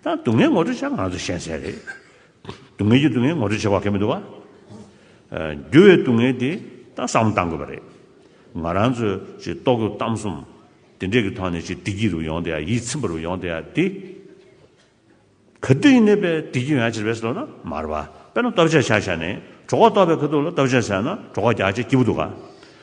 ད་སྡུག་བསྔལ་ངོ་སྤྲོད་བྱ་ང་ཚོ་གཞན་སེལ་རེད། སྡུག་བསྔལ་གྱི་སྡུག་བསྔལ་ངོ་སྤྲོད་བྱེད་པ་གལ་མི་འདུག་བ། འགྱུར་བའི་སྡུག་བསྔལ་དེ་ད་བསམ་བློ་གཏང་དགོས་པ་རེད། ང་རང་ཚོས་ཅིག་རྟོག་གི་གཏམ་གསུམ་དེ་འདྲས་ཀྱི་ཐོག་ནས་ཅིག་བདེ་སྐྱིད་རུ་ཡོང་དེ་ཡང་ཡིད་ཚིམ་པ་རུ་ཡོང་དེ་ཡང་དེ་ག་དུས་ཡིན་ནའི་པའི་བདེ་སྐྱིད་ཡོང་ཡ་ཆེར་བས་སོ་ན་མར་བ་དཔེར་ན་སྟོབས་ཆགས་ཆགས་བྱས་ནས་གྲོགས་ཁ་གཏོགས་པའི་ག་དུས་ལ་སྟོབས་ཆགས་བྱས་ན་གྲོགས་ཁ་རྒྱག་ཆེ་སྐྱིད་པོ་འདུག་ག།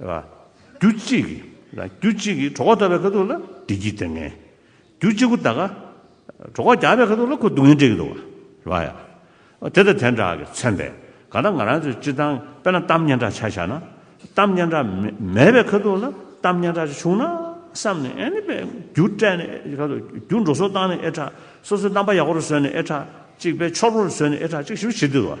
རྒྱུ་གཅིག་གིས་རྒྱུ་གཅིག་གིས་གྲོགས་བདག་པའི་ཁ་ཐུག་ལ་བདེ་སྐྱིད་སྟེར་ངེས། རྒྱུ་གཅིག་པུ་དག་ག་གྲོགས་བདག་པའི་ཁ་ཐུག་ལ་ཁོ་སྡུག་བསྔལ་སྤྲད་ཀྱི་འདུག་བ། དེ་དང་དེ་འདྲ་གི་མཚན་པས་ག་ད་ང་རང་ཚོའི་སྤྱི་བཏང་དཔེར་ན་གཏམ་སྙན་གྲགས་ཆ་བཞག་ན། གཏམ་སྙན་གྲགས་མེད་པའི་ཁ་ཐུག་ལ་གཏམ་སྙན་གྲགས་ཅིག་བྱུང་ན་བསམ་ནས་ཨེ་ནི་པས་རྒྱུ་སྤྲད་ནས་ཨེ་གྲགས་རྒྱུ་འགྲོ་སོང་བཏང་ནས་ཨེ་གྲགས་སོ་སོའི་རྣམ་པ་ཡག་པོ་རུ་བཟོས་ནས་ཨེ་གྲགས་གཅིག་དཔེ་འཆོར་པོ་རུ་བཟོས་ནས་ཨེ་གྲགས་གཅིག་ཞིབ་བྱེད་དུས་བ།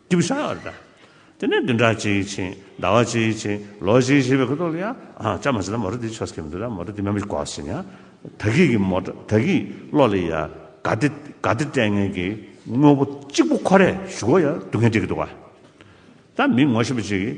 ཀྱི་བྱ་བ་རེད། དེ་ནས་བདུན་ཕྲག་གཅིག་ཕྱིན། ཟླ་བ་གཅིག་ཕྱིན། ལོ་གཅིག་ཕྱིན་པའི་ཁོ་ཐོག་ལ་ཡང། ཅང་མ་ཟད་ན་མོ་རོ་དེའི་ཆོས་སྐྱོང་གི་མི་འདུག་ལ་མོ་རོ་དེའི་མ་མི་གོ་ཟེར། ཡང་ད་གིས་ཀྱི་མོ་ད་གིས་བློ་ལ་ཡ། དགའ་བདེ་དགའ་བདེ་སྤྲད་ངན་གྱི། དངོས་པོ་གཅིག་པུ་ཁོ་རས་ཞུ་གོ་ཡ་སྡུག་བསྔལ་སྤྲད་ཀྱི་འདུག་ག། ད་མི་ངོ་ཤེས་པ་ཅིག་གིས།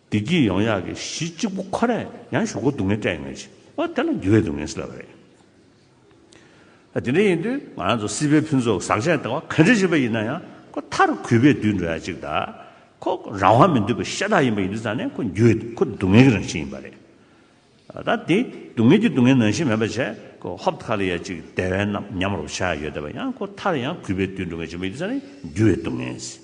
བདེ་སྐྱིད་ཡོང་ཡག་གི་གཞི་གཅིག་པུ་ཁོ་ནས་ཡང་ཞོག་གོ་སྡུག་བསྔལ་སྤྲད་ཡོང་ཆེ་ཨ་དེ་ལ་འགྱུར་བའི་སྡུག་བསྔལ་སེལ་བ་རེད། ཨ་དེ་འདྲ་ཡིན་དུས་ང་ཚོ་སྲིད་པའི་ཕུན་ཚོགས་ཟག་བཅས་བཏང་བ་ག་འདྲ་ཞིག་པ་ཡིན་ན་ཡང་ཁོ་མཐའ་རུ་གུས་པས་འདུད་འགྲོ་ཡག་གཅིག་ད་ཁོ་རང་དབང་མི་འདོད་པའི་ཤ་སྟག་ཡིན་པ་ཡིན་དུས་ཙང་ནས་ཁོ་འགྱུར་བའི་ཁོ་སྡུག་བསྔལ་གྱི་རང་བཞིན་ཡིན་པ་རེད། ད་དེ་སྡུག་བསྔལ་གྱི་སྡུག་བསྔལ་ནང་བཞིན་མེད་པ་བྱས་ཁོ་ཧོབ་ཁ་ལ་ཡག་གཅིག་དེ་བས་ནམ་ཉམས་རོགས་བྱ་ཡག་ཡོད་དེ་བས་ཡང་ཁོ་མཐའ་རུ་ཡང་གུས་པས་འདུད་འགྲོ་ངེས་ཅན་པ་ཡིན་དུས་ཙང་ནས་འགྱུར་བའི་སྡུག་བསྔལ།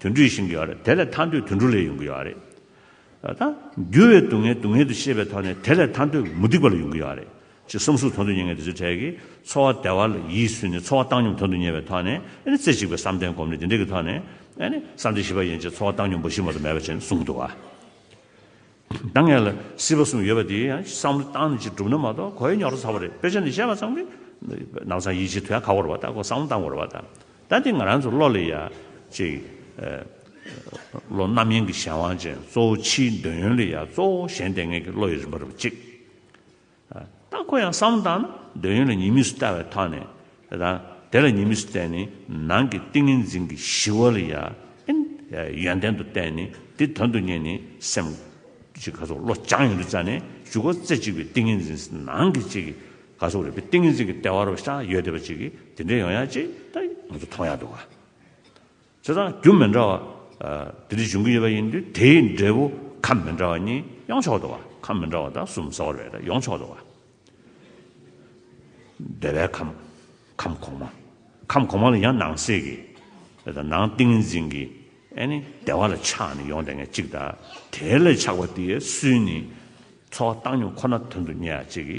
དུད་འགྲོ་བཞིན་གྱི་ཡོད་རེད་དེ་ལས་ཐར་འདོད་དུད་འགྲོ་ལས་ཡོང་གི་ཡོད་རེད་ད། འགྱུར་བའི་སྡུག་བསྔལ་སྡུག་བསྔལ་དུ་ཤེས་པའི་ཐོག་ནས་དེ་ལས་ཐར་འདོད་མུ་སྟེགས་པ་ལས་ཡོང་གི་ཡོད་རེད་ཅེས་སེམས་གསོ་དོན་དུ་གཉེར་མཁན་དེ་ཚོའི་གྲས་ཀྱིས་འཚོ་བ་བདེ་བ་ལ་ཡིད་བསུས་ནས་འཚོ་བ་བཏང་སྙོམས་དོན་དུ་གཉེར་བའི་ཐོག་ནས་རྩེ་གཅིག་པའི་བསམ་གཏན་སྒོམ་ལས་དེ་འདྲའི་གི་ཐོག་ནས་བསམ་གཏན་བཞི་པ་ཡན་ཆད་འཚོ་བ་བཏང་སྙོམས་འབའ་ཞིག་མ་གཏོགས་མེད་པ་བྱས་ནས་གསུངས་གི་འདུག་ག། ད་ངས་ལ་སྲིད་པ་གསུམ་ཡོད་པ་དེའི་ཡང་བསམ་བློ་བཏང་ནས་ཅིག་བསྒྲུབ་ན་མ་གཏོགས་གོ་ཡ་ཉོག་རོ་ཚ་བ་རེད་དཔེ་ཆ་འདི་བཤད་པ་ཙམ་གྱིས་ནག་ཚང་ཡིད་ཆེས་ཐུ་ཡ་ག་བོར་བ་ལྟ་གོ་བསམ་བློ་བཏང་དགོས་ར་བ་ལྟ་ད་འདི་ང་རང་ཚོ་བློ་ལས་ཡ་ཅིག་བློ་རྣམ་གཡེང་གི་གཞན་དབང་ཅན་གཙོ་བོ་ཕྱིའི་འདོད་ཡོན་ལས་ཡ་གཙོ་བོ་གཞན་ལྟས་ངན་གྱི་བློ་ཡི་རིམ་པ་རུ་ཅིག་རྟགས་ཁོ་ཡང་བསམ་བཏང་ན་འདོད་ཡོན་ལ་ཉེས་དམིགས་སུ་བལྟ་བའི་ཐོག་ནས་དང། དེ་ལ་ཉེས་དམིགས་སུ་བལྟས་ནས་ནང་གི་ཏིང་ངེ་འཛིན་གྱི་ཞི་བ་ལ་ཡང་ཡོན་ཏན་དུ་བལྟས་ནས་དེ་དོན་དུ་གཉེར་ནས་སེམས་ཀྱི་ག་སོག་བློ་སྦྱང་ཡོངས་འདུས་རྩ་ནས་ཞུགས་པ་རྩེ་གཅིག་པའི་ཏིང་ངེ་འཛིན་ནང་གི་གཅིག་གི་ག་སོག་རིག་པའི་ཏིང་ངེ་འཛིན་གྱི་ལྟེ་བ་རུ་ཤ་ཡོད་བདེ་བ་གཅིག་གིས་དེ་འདྲའི་ཡོང་ཡ་གཅིག་ད་ང་ཚོ་མཐོང་ཡ་འདུག་ག། ཚེ་དང་རྒྱུ་མི་འདྲ་བ་དེ་རིགས་འབྱུང་གི་ཡོད་པ་ཡིན་དུས་དེའི་འབྲས་བུ་ཁམས་མི་འདྲ་བ་གཉིས་ཡོངས་ཆོག་ཏུ་བ་ཁམས་མི་འདྲ་བ་དང་གསུམ་ཟ་བར་བས་ན་ཡོངས་ཆོག་ཏུ་བ། བདེ་བའི་ཁམས་ཁམས་གོང་མ་ཁམས་གོང་མ་ལ་ཡང་ནང་གསེས་ཀྱི་དང་ནང་ཏིང་འཛིན་གྱི་བདེ་བ་ལ་ཆགས་ནས་ཡོངས་དེ་ངས་གཅིག་དང་དེའི་ལས་ཆགས་པ་དེའི་སུན་ནི་ཚོར་བ་བཏང་སྙོམས་ཁོ་ན་དོན་དུ་གཉེར་བྱེད་ཀྱི།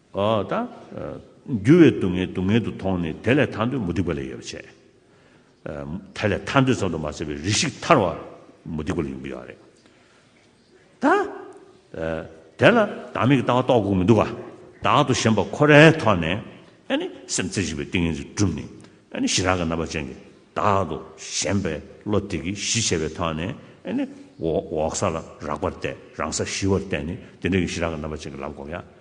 ད། འགྱུར་བའི་སྡུག་བསྔལ་སྡུག་བསྔལ་དུ་མཐོང་ནས་དེ་ལས་ཐར་འདོད་མུ་སྟེགས་པ་ལས་ཡོད་པར་བྱས། དེ་ལས་ཐར་འདོད་ཙམ་དུ་མ་ཟད་པའི་རིགས་ཤིག་ཐར་བ་མུ་སྟེགས་པ་ལས་ཡོང་གི་ཡོད་རེད། ད། དེ་ལ་བདག་མེད་ཀྱི་ལྟ་བ་རྟོགས་དགོས་མི་འདུག་ག། བདག་ཏུ་ཞེན་པ་ཁོ་རའི་ཐོག་ནས། སེམས་རྩེ་གཅིག་པའི་ཏིང་ངེ་འཛིན་བསྒྲུབས་ནས། གཞི་རང་གི་རྣམ་པ་ཅན་གྱི་བདག་ཏུ་ཞེན་པའི་བློ་དེ་གིས་གཞི་བྱས་པའི་ཐོག་ནས། འོག་ས་ལ་རགས་པར་བལྟས་རང་སར་ཞི་བར་བལྟས་ནས་དེ་འདྲ་གི་གཞི་རང་གི་རྣམ་པ་ཅན་གྱི་ལམ་བསྒོམ་ཡ།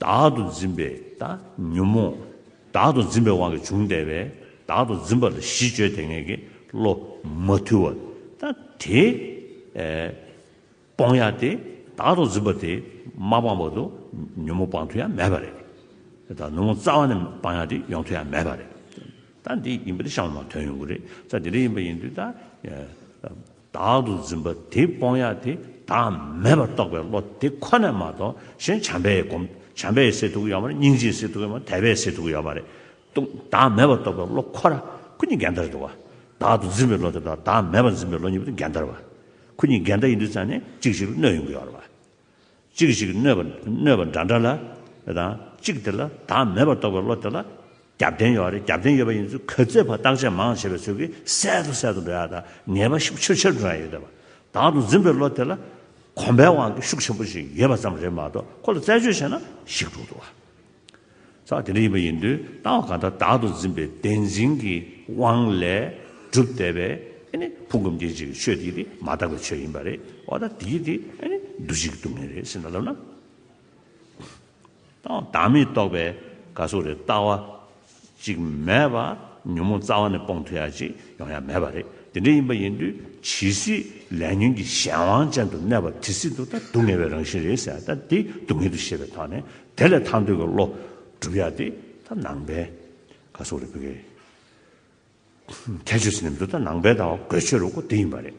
བདག་ཏུ་འཛིན་པས་ད་ཉོན་མོངས། བདག་ཏུ་འཛིན་པའི་དབང་གིས་བྱུང་བདེ་བས་བདག་ཏུ་འཛིན་པ་ལ་གཞི་བཅོལ་དེ་ངེས་ཀྱི་བློ་མ་ཐུལ་བ་ད་དེ། སྤོང་ཡ་དེ་བདག་ཏུ་འཛིན་པ་དེ་མ་སྤངས་བར་དུ་ཉོན་མོངས་སྤང་ཐུ་ཡང་མེད་པ་རེད། ད་ཉོན་མོངས་རྩ་བ་ནས་སྤང་ཡ་དེ་ཡོང་ཐུ་ཡང་མེད་པ་རེད། ད་འདི་ཡིན་པ་དེ་བཤང་བ་མ་དོན་ཡོང་གི་རེད། ད་འདི་འདྲ་ཡིན་པ་ཡིན་དུས་ད། བདག་ཏུ་འཛིན་པ་དེ་སྤོང་ཡ་དེ་བདག་མེད་པར་རྟོགས་པའི་བློ་དེ་ཁོ་ནས་མ་གཏོགས་གཞན་བྱམས་པའི་སྒོམ་བྱམས་པའི་སེལ་ཐུག་ཡོད་མ་རེད་སྙིང་རྗེའི་སེལ་ཐུག་ཡོད་མ་རེད་དད་པའི་སེལ་ཐུག་ཡོད་མ་རེད། ཏུ་བདག་མེད་པར་རྟོགས་པའི་བློ་ཁོ་ར་ཁོ་གཉིས་འགལ་ཟླ་རེད་འདུག་བ། བདག་ཏུ་འཛིན་པའི་བློ་དེ་དང་བདག་མེད་པར་འཛིན་པའི་བློ་གཉིས་པོ་དེ་འགལ་ཟླ་རེད་བ། ཁོ་གཉིས་འགལ་ཟླ་ཡིན་དུས་ཙང་ནས་གཅིག་གཅིག་ལ་གནོད་ཡོང་གི་ཡོད་རེད་བ། གཅིག་ཅིག་གནོད་པ་གནོད་པ་འདྲ་འདྲ་ལ་དང་གཅིག་དེ་ལ་དག་མེད་པར་རྟོགས་པའི་བློ་དེ་ལ་རྒྱབ་རྟེན་ཡོད་རེད་རྒྱབ་རྟེན་ཡོད་པ་ཡིན་ཚུལ་གོ་ཚད་བརྟག་དཔྱད་མང་བྱས་པའི་ཚུལ་གྱིས་གསལ་དུ་གསལ་དུ་འགྲོ་ཡག་དང་ངེས་པ་ཤུགས་ཆེར་ཆེར་འགྲོ་ཡང་ཡོད་དེ་བར་དག་ཏུ་འཛིན་པའི་བློ་དེ་ལ་གོམས་པའི་དབང་གིས་ཤུགས་ཆེན་པོ་ཞིག་ཡོད་པ་ཙམ་རེད་མ་གཏོགས་ཁོ་ལ་རྩད་གཅོད་བྱས་ན་ཞིག་འགྲོ་འདུག་བ། ས་དེ་འདྲ་ཡིན་པ་ཡིན་དུས་ལྟ་བ་གང་དག་བདག་ཏུ་འཛིན་པའི་བདེན་འཛིན་གྱི་དབང་ལས་གྲུབ་བསྡད་པས་དེ་ནི་ཕུང་ཁམས་སྐྱེ་འཆི་གི་ཆོས་དེ་དེ་མ་ཐག་པའི་ཆོས་ཡིན་པ་རེད་བ་དང་དེ་དེ་འདུ་བྱེད་ཀྱི་སྡུག་བསྔལ་རེད་ཟེར་ན་ལབ་ན་བདག་མེད་རྟོགས་པའི་དགའ་སོགས་རེད་ལྟ་བ་ཅིག་མེད་པ། ཉོན་མོངས་རྩ་བ་ནས་སྤོང་ཐུབ་ཡ་གཅིག་ཡོང་ཡ་མེད་པ་རེད། དེ་འདྲ་ཡིན་པ་ཡིན་དུས་ཇི་སྲིད་ལས་ཉོན་གྱི་གཞན་དབང་ཅན་དུ་གནས་པ་དེ་སྲིད་དུ་ད་སྡུག་བསྔལ་བའི་རང་བཞིན་རེད་ཟེར་ཡ་ད་དེ་སྡུག་བསྔལ་དུ་ཤེས་པའི་ཐོག་ནས་དེ་ལས་ཐར་འདོད་ཀྱི་བློ་བསྒྲུབ་ཡ་དེ་ད་ནང་པའི་ཁ་སོགས་རེད་བོད་སྐད་ཁྱད་ཆོས་ཟེར་ནས་མི་འདུག་ད་ནང་པའི་ད་བ་གོས་ཆོད་རོགས་སྐོ་དེ་ཡིན་པ་རེད།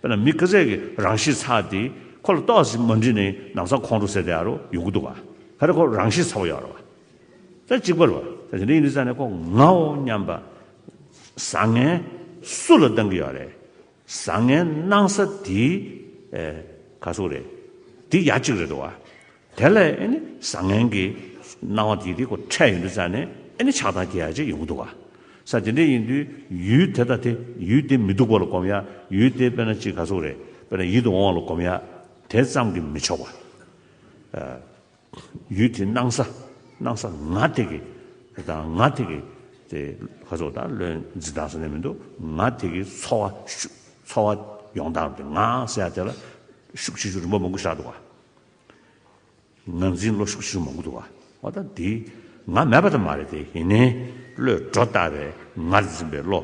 དཔེར་ན་མི་སྐེ་ཚད་ཀྱི་རང་གཤིས་ཚ་དེ་ཁོ་ལ་ལྟོགས་ཟིན་ཟིན་མ་འདྲིས་ནས་ནང་ཚ་ཁོང་ཁྲོ་ཟེར་དེ་ཨ་རོ་ཡོད་གི་འདུག་བ་ད་རེ་ཁོ་རང་གཤིས་ཚ་བོ་ཡོད་རེད་བ་ད་གཅིག་པར་བ་ད་དེ་འདྲ་ཡིན་དུས་ཚ་ནས་ཁོ་ངའོ་སྙམ་པ། བཟང་ངན་སུ་ལ་སྡང་གི་ཡོད་རེད་བཟང་ངན་སྣང་ས་དེའི་ག་ཟུག་རེད་དེ་ཡ་གཅིག་རེད་འདུག་བ་དེ་ལས་ཨེ་ནི་བཟང་ངན་གྱི་སྣང་བ་དེ་དེ་ཁོ་འཕྲད་ཡོད་དུས་ཙང་ནས་ཨེ་ནི་ཆགས་སྡང་སྐྱེ་ཡ་ཅིག་ཡོང་གི་འདུག་ག་ས་དེ་འདྲས་ཡིན་དུས་ཡུལ་དེ་དང་དེ་ཡུལ་དེ་མི་སྡུག་པ་ལ་གོམས་ཡ་ཡུལ་དེ་དཔེར་ན་གཅིག་ག་ཚོགས་རེ་དཔེར་ན་ཡིད་དུ་འོང་བ་ལ་གོམས་ཡ་དེ་ཙམ་གྱིས་མི་ཆོག་པ། ཡུལ་དེའི་སྣང་ས་སྣང་ས་ང་དེ་གི་དང་ང་དེ་གི་དེ་ག་ཚོགས་དང་བློའི་འཛིན་སྟངས་ས་ནས་མི་འདུག་ང་དེ་གི་འཚོ་བ་ཤུགས་འཚོ་བ་ཡོང་སྟངས་དེ་ང་ཟེར་ཡ་དེ་ལ་ཤུགས་ཆེ་ཆུང་རིམ་པ་མང་པོ་བཞག་འདུག་ག། ངར་འཛིན་བློ་ཤུགས་ཤུགས་མང་པོ་འདུག་བ་ཨོ་ད་འདི་ང་མེད་པ་དང་མ་རེད་དེ་ཡིན་ནའི་བློས་སྒྲོ་བཏགས་པའི་ངར་འཛིན་པའི་བློ་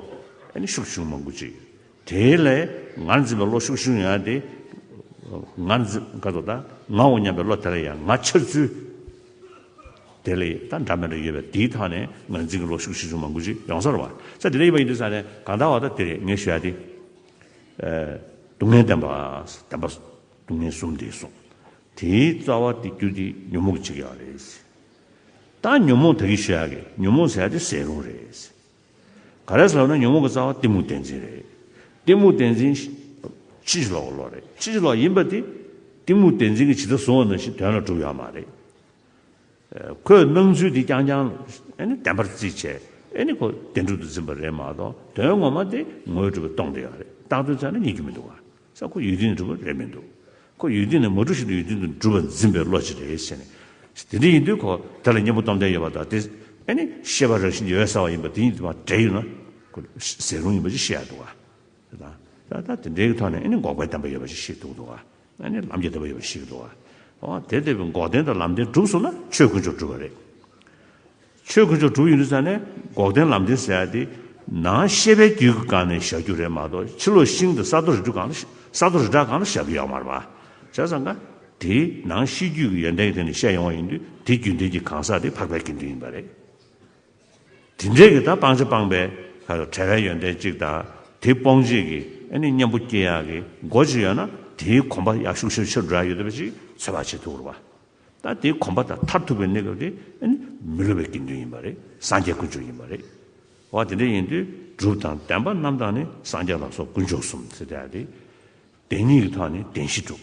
ཨནི་ཤུགས་ཤུགས་མང་པོ་ཅིག་དེ་ལས་ངར་འཛིན་པའི་བློ་ཤུགས་ཤུགས་ཡོད་ན་དེ་ངར་འཛིན་ཁ་དོག་ད་ངའོ་སྙམ་པའི་བློ་དེ་ལ་ཡང་ང་འཆར་ཚུལ་དེ་ལས་ད་འདྲ་མི་འདྲ་ཡོད་པས་འདིའི་ཐག་ནས་ངར་འཛིན་གྱི་བློ་ཤུགས་ཤུགས་ཤུགས་མང་པོ་ཅིག་ཡོང་ས་རེད་བ་ཚ་འདི་ལས་ཡིན་པ་ཡིན་དུས་ས་ནས་གང་ལྟར་བ་ད་འདི་རེད་ངས་ཞུ་ཡ་དེ་སྡུག་བསྔལ་བདེན་པ་བདེན་པ། སྡུག་བསྔལ་གསུམ་འདི་གསུངས། དེའི་རྩ་བ་སྟེ་རྒྱུ་འདི་ཉོན་མོངས་ཅི་ཡང་རེད། ད་ཉོན་མོངས་ད་གི་ཤོད་ཡ་གི་ཉོན་མོངས་ཟེར་ཡ་དེ་ཟེར་རུང་རེད། ག་རེ་ཟེར་བ་ན་ཉོན་མོངས་ཀྱི་རྩ་བ་གཏི་མུག་བདེན་འཛིན་རེད། གཏི་མུག་བདེན་འཛིན། ཕྱི་ཕྱི་ལོག་ལོག་རེད། ཕྱི་ཕྱི་ལོག་ཡིན་པ་དེ། གཏི་མུག་བདེན་འཛིན་གྱི་ཇི་ལྟར་བཟུང་བ་ན་ཞིག་དོན་ལ་གྲུབ་ཡོད་མ་རེད། ཁོས་སྣང་ཚུལ་འདི་རྐྱང་རྐྱང་བདེན་པར་རྩིས་བྱས་ནས་ཁོ་བདེན་གྲུབ་ཏུ་འཛིན་པ་རེད་མ་གཏོགས་དོན་ངོ་མ་དེ་ངོས་གྲུབ་པ་སྟོང་དེ་ཡག་རེད་རྟག་དོན་ཚང་ན་ཉན་རྒྱུ་མི་འདུག་ག་ས་ཁོ་ཡུལ་དུས་ནས་གྲུབ་པ་རེད་མི་འདུག་ཁོ་ཡུལ་དུས་ནས་མ་གྲུབ་བཞིན་དུ་ཡུལ་དུས་དུ་གྲུབ་པར་འཛིན་པའི་བློ་ཅི་རེད་ཟེར་ནས་དེ་འདྲ་ཡིན་དུས་ཁོ་དེ་ལ་སྙིང་པོ་སྟོབས་ལྡན་ཡོད་པ་དང་དེ་ཤེས་པ་རང་བཞིན་ཡོད་ས་བ་ཡིན་པ་དེ་གཉིས་དུ་མ་འདྲེས་ཡོད་ན་ཁོ་ཟེར་རུང་ཡིན་པ་ཅིག་ཤེས་ཡག་འདུག་ག་ད་དེ་འདྲའི་ཐོག་ནས་འགོག་པའི་བདེན་པ་ཡོད་པ་ཅིག་ཤེས་འདུག་འདུག་ག་ལམ་གྱི་བདེ་བ་ཡོད་པར་ཤེས་ཀྱི་འདུག་ཨ། དེ་བདེ་བའི་འགོག་བདེན་དང་ལམ་བདེན་གྲུབ་སོང་ན་ཆོས་དཀོན་མཆོག་གྲུབ་པ་རེད། ཆོས་དཀོན་མཆོག་གྲུབ་ཡོད་ནུས་ཙམ་ནས་འགོག་བདེན་ལམ་བདེན་ཟེར་ཡ་དེ་ནང་ཤེས་པའི་རྒྱུད་ཀྱི་སྒང་ནས་བཞག་རྒྱུ་རེད་མ་གཏོགས་ཕྱི་ལོགས་ཤིང་དང་ས་རྡོ་རི་གྲུ་གང་ལ་ས་རྡོ་རི་བྲག་གང་ལ་བཞག་རྒྱུ་ཡག་མ་རེད་པ། བྱས་ཙང་ཀ། དེ་ནང་ཤེས་རྒྱུད་ཀྱི་ཡོན་ཏན་གྱི་ཐད་ནས་བཤད་ཡོང་བ་ཡིན་དུས་དེ་རྒྱུན་ལྡན་གྱི་གང་ཟག་དེ་འཕགས་པའི་དགེ་འདུན་ཡིན་པ་རེད། དེ་འབྲས་ཀྱི་ད་སྤང་བྱ་སྤངས་པའི། བྲལ་བའི་ཡོན་ཏན་གཅིག་དང་དེ་སྤོང་བྱེད་ཀྱི། གཉེན་པོ་སྐྱེ་ཡག་གི་སྒོ་གཅིག་ཡོད་ན་དེའི་གོམས་པ་ཡག་ཤུགས་ཤོས་ཆེར་འགྲོ་ཡག་ཡོད་པ་ཞིག་འཚོལ་བར་བྱེད་ཐུགས་རུ་བ། ད་དེའི་གོམས་པ་དང་མཐར་ཐུག་པའི་གནས་སྐབས་དེ། མི་སླུ་བའི་དགེ་འདུན་ཡིན་པ་རེད་སངས་རྒྱས་དཀོན་མཆོག་ཡིན་པ་རེད། འོ་དེ་འདྲ་ཡིན་དུས་སྒྲུབ་དང་བདེན་པ་རྣམ་དག་ནི་སངས་རྒྱས་ལ་སོགས་དཀོན་མཆོག་གསུམ། བདེན་གཉིས་ཀྱི་ཐོག་ནས་བདེན་བཞི་སྒྲུབ།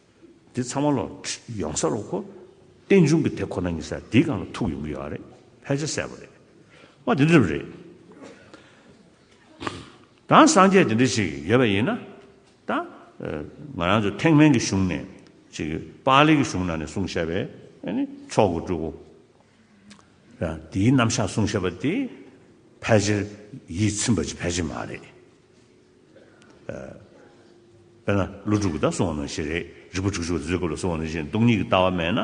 འདི་ཚང་མ་ལོག་ཡོང་ས་རོགས་གོ། རྟེན་འབྱུང་གི་དེ་ཁོ་ན་ཉིད་ས་འདིའི་སྒང་ལ་ཐུག་ཡོང་གི་ཡོད་རེད་ཕལ་ཆེར་གསལ་པོ་རེད། མ་དེ་འདྲ་རེད། དང་སངས་རྒྱས་དེ་འདྲ་ཞིག་ཡོད་པ་ཡིན་ན། ད། ང་རང་ཚོ་ཐེག་དམན་གྱི་གཞུང་ནས། ཅིག་པཱ་ལིའི་གི་གཞུང་ནང་ནས་གསུང་བཤད་པའི། མཆོག་གི་སྤྲུལ་སྐུ། འདིའི་རྣམ་བཞག་གསུང་བཤད་པ་དེ། ཕལ་ཆེར་ཡིད་ཚིམ་པ་ཅིག་ཕལ་ཆེར་མ་རེད། དཔེར་ན་ལོ་དྲུག་གི་ཟླ་གསུམ་བ་ནང་བཞིན་རེད་རིག་པ་དྲུག་ཅུ་བ་བཟོད་སྐབས་ལ་སོགས་བ་ནང་བཞིན་སྟོང་ཉིད་ཀྱི་ལྟ་བ་མེད་ན་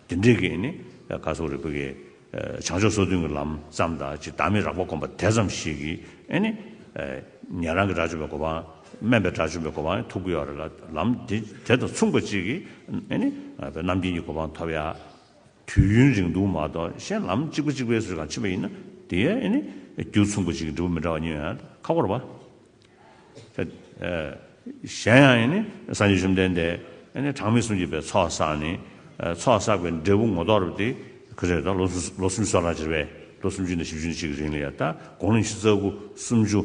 དེ་འདྲའི་གེགས་ནི་ག་སོགས་རེད་བོད་ཀྱི་བྱང་ཕྱོགས་སོ་བདུན་གྱི་ལམ་ཙམ་དང་ཅིག་བདག་མེད་རགས་པ་སྒོམ་པ་དེ་ཙམ་ཞིག་གིས་ནི་ཉན་རང་གི་དགྲ་བཅོམ་པའི་གོ་འཕང་དམན་པའི་དགྲ་བཅོམ་པའི་གོ་འཕང་ཐོབ་ཀྱི་ཡོད་རེད་ལ་ལམ་དེ་དང་མཚུངས་པ་ཅིག་གིས་ནི་རྣམ་མཁྱེན་གྱི་གོ་འཕང་ཐོབ་ཡ། དུས་ཡུན་རིང་ཐུང་མ་གཏོགས་གཞན་ལམ་གཅིག་པ་གཅིག་པའི་སུ་ཞིག་གང་ཕྱིན་པ་ཡིན་ན་དེ་ཡང་ནི་རྒྱུ་མཚུངས་པ་ཅིག་གིས་འགྲུབ་པ་མི་འདྲ་བ་གཉིས་ཡོད་ན་ཁ་འཁོར་བ། གཞན་ཡང་ནི་སངས་རྒྱས་བཅོམ་ལྡན་འདས་གྲངས་མེད་གསུམ་གྱིས་པའི་ཚོགས་བསགས་ནས་ཚོགས་བསགས་པའི་འབྲས་བུ་ངོ་ཐོག་རབ་སྟེ་ཁོས་རེ་དོགས་ལོ་སུམ་ཅུ་སོ་ལ་བྱེར་བས་ལོ་སུམ་ཅུ་ནས་བཞི་བཅུ་ནས་གཅིག་རིང་ལ་ཡང་དགོངས་ལན་བཞི་རྩ་དགུ་སུམ་ཅུ།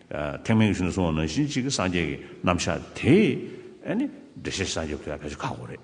ཐེག་དམན་གྱི་ཆོས་ནི་གསུང་བ་ནང་བཞིན་གཅིག་གི་སངས་རྒྱས་ཀྱི་རྣམ་གཞག་དེ། འགྲེལ་བཤད་སངས་རྒྱས་ཀྱི་ཁུ་ཚ་གལ་ཆེན་ཁག་པོ་རེད།